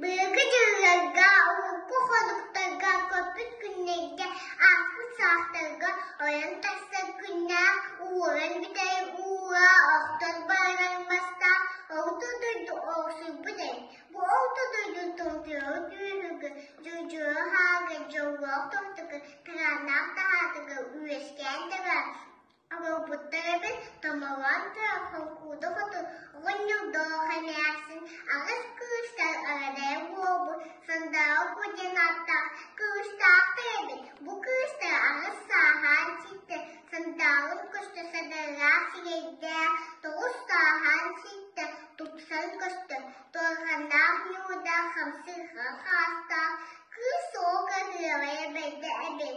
Быйылгы дьылларга, урукку-хонуктарга, көппүт күннэргэ, ааспыт саастарга ойон тахсар күннээх уоран бүтэрэр уура охтон барар мастаах Орто дойду охсуйбут эбит. Бу Орто дойду тымтыаҕы күүһүгэр, дьудьуйа һааҕар, дьоллоох томтуга, кырааннаах таһаатыгар үөскээн табаар Обуоппуттар эбит, Томолоон тыа холкуода хоту оҕонньордоох эмээхсин аҕыс кыыстар арадай уолбут Сандааҕа Ку диэн ааттаах кыыстаахтар эбит. Бу кыыстар аҕыс сааһаан ситтэр, Сандааҕын көстө садарылаах сирэйдээх, тоҕус сааһаан ситтэр, тупсан көстөр, туорханнаах ньуудаах, хамсыырҕан хаастаах, кыыс суол кырыаҕа эбэйдэ эбит.